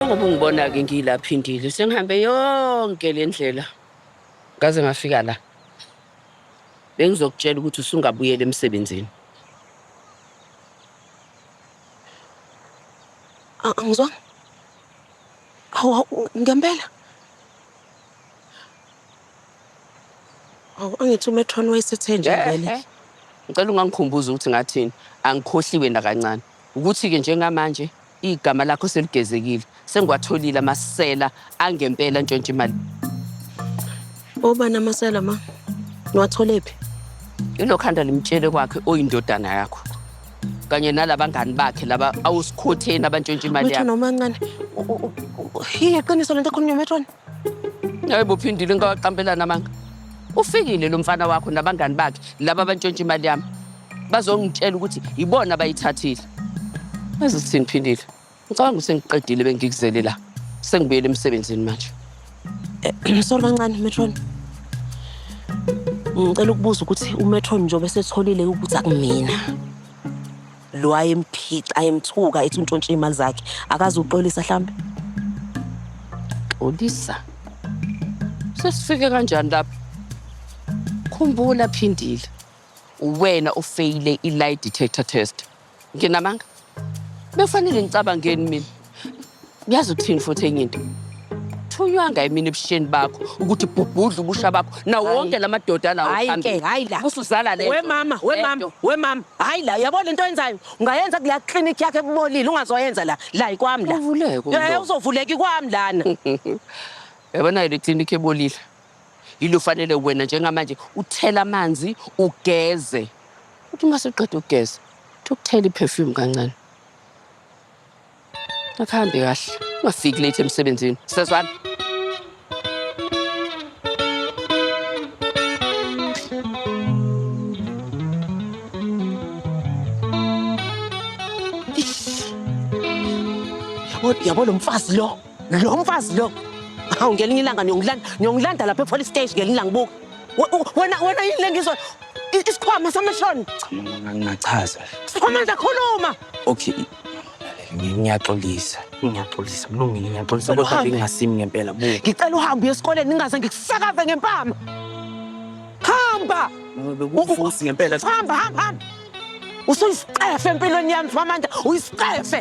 Ngoba ungibona-ke ngiyilaphindile sengihambe yonke le ndlela ngaze ngafika la bengizokutshela ukuthi usungabuyela emsebenzini A- Angizwanga. Hawu hawu, ngempela. Hawu angithi uMethron wayesethe nje Eh, vele. eh. ngicela ungangikhumbuza ukuthi ngathini angikhohliwe nakancane ukuthi-ke njengamanje Igama lakho seligezekile. Sengiwatholile amasela angempela ntshontsha imali. Obani amasela ma? Niwathole phi? Ilokhanda limtshele kwakhe oyindodana yakho. Kanye nalabangani bakhe laba awusikhotheni abantshontsha imali Methwana yakho. umancane. U- u- u- u- Hiye qiniso lento ekhulunywa Methwana. Hayi bophindile ngawaqampelana amanga. Ufikile lo mfana wakho nabangani bakhe laba abantshontsha imali yami. bazongitshela ukuthi yibona abayithathile azi sithini phindile ngicabanga usengiqedile bengikuzele la sengibuyele emsebenzini manje eh, sorry kancane metron ngicela ukubuza ukuthi umetron njengoba esetholile ukuthi akumina lo ayemphica ayemthuka ethi untshontshe imali zakhe akazi uxolisa mhlambe xolisa sesifike kanjani lapho khumbula phindile uwena ofeyile i-lie detector test nginamanga bekufanele ngicabangeni mina ngiyazi ukuthini futhi enye into thunywanga yimina ebusheni bakho ukuthi bhubhudla ubusha bakho nawo wonke la madoda anawo Hhayi phambili. ke, hhayi la. Usuzala le nto. Wemama, wemama, Lento. wemama. Hhayi la, yabo le nto oyenzayo. Ungayenza kula clinic yakhe kubolile, ungazoyenza la. La ikwami la. Uvuleke Eh, umlomo. uzovuleka ikwami lana. yabona-ke le klinikhi ebolile Yini ufanele wena njengamanje uthele amanzi ugeze. Uthi uma suqeda ukugeza, uthi ukuthela i-perfume kancane. Akuhambe kahle. Ungafiki late emsebenzini. Sezwana. Yabo lo mfazi lo. Lo mfazi lo. Hawu ngelinye ilanga niyongilanda niyongilanda lapha epolice station ngelinye ilanga buka. Wena wena yini lengizwa isikhwama samashoni. Cha ngingachaza. Sikhwama ngiyakhuluma. Okay. Ngiyaxolisa. Ngiyaxolisa. Mlungile ngiyaxolisa kodwa bengingasimi ngempela buka. Ngicela uhambe uye esikoleni ningaze ngikusakaze ngempama. Hamba. Ubufusi ngempela. Hamba hamba hamba. Usuyisicefe empilweni yami Famanda, uyisicefe.